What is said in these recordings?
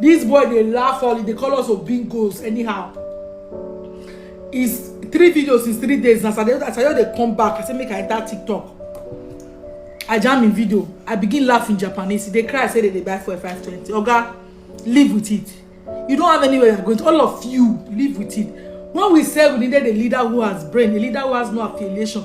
This boy dey laugh all, he dey call us obingos anyhow. Is three videos is three days na saturday as i just dey come back i say make i enter tiktok i jam im video i begin laugh in japanese e dey cry say they dey buy fuel five twenty oga live with it you don't have anywhere you're going to all of you live with it when we say we needed a leader who has brain a leader who has no affiliation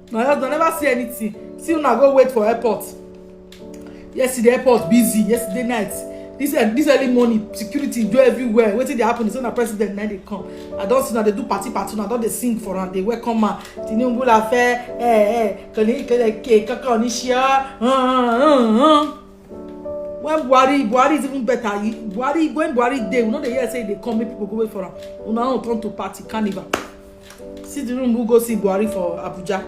my husband never see anything see una go wait for airport yesterday airport busy yesterday night this eh, this early morning security do everywhere wetin dey happen is when na president na dey come i don see na dey do party party na don dey sing for am dey welcome ma tinubu la fẹ ẹ ẹ kẹlẹ kẹlẹ ke kankan ní ṣe ọ when buhari buhari is even better he buhari when buhari dey we no dey hear say he dey come make people go wait for am una own turn to party carnival. see the room who go see buhari for abuja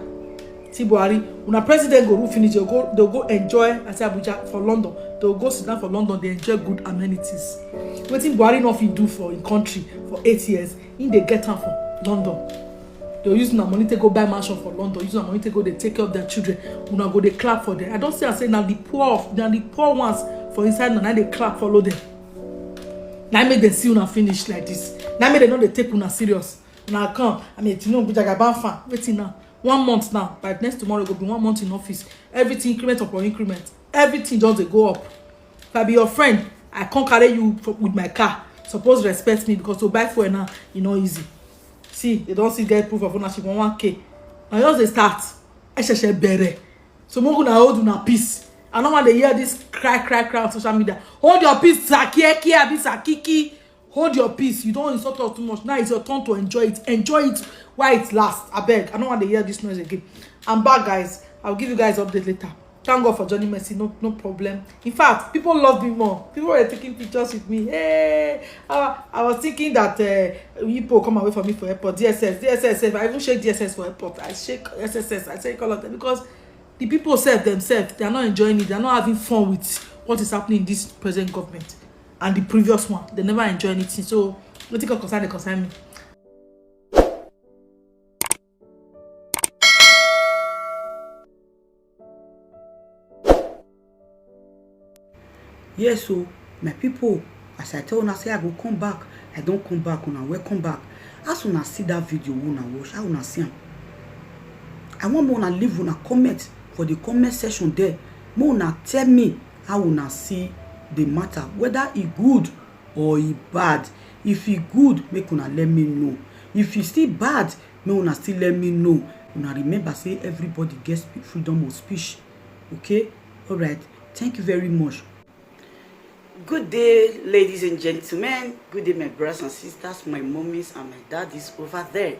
see buhari una president go rule finish dem go dem go enjoy as abuja for london dem go sit down for london dey enjoy good amenities wetin buhari no fit do for im country for eight years im dey get am for london dem use una money take go buy mansion for london use una money take go dey take care of their children una go dey clap for them i don see am say na the poor of na the poor ones for inside una na dey clap follow them na make dem see una finish like this na make dem no dey take una serious una come i mean tinubu jagaban fan wetin now one month now by next tomorrow go be one month in office everything increment upon increment everything just dey go up if i be your friend i come carry you for, with my car suppose respect me because to buy fuel now e no easy see they don still get proof of ownership on one k na just dey start ẹ ṣẹ̀ṣẹ̀ bẹ̀rẹ̀ so make una hold una peace i no wan dey hear this cry cry cry on social media hold your peace sakieki abi sakiki hold your peace you don insult us too much now it's your turn to enjoy it enjoy it while it last abeg i no wan dey hear this noise again i'm back guys i'll give you guys update later thank god for johnny mercy no no problem in fact people love me more people were taking pictures with me hey uh, i was thinking that uh, people come away from me for airport dss dss if i even shake dss for airport i shake sss i shake all of them because the people self themselves they are not enjoying it they are not having fun with what is happening in this present government and the previous one they never enjoy anything so wetin come concern dey concern me. yes o my people as i tell una say i go come back i don come back una welcome back as una see that video wey una watch how una see am i wan make una leave una comment for the comment section there make una tell me how una see the matter whether e good or e bad if e good make una let me know if e still bad make una still let me know una remember say everybody get freedom of speech okay all right thank you very much Good day, ladies and gentlemen. Good day, my brothers and sisters, my mommies and my daddies over there.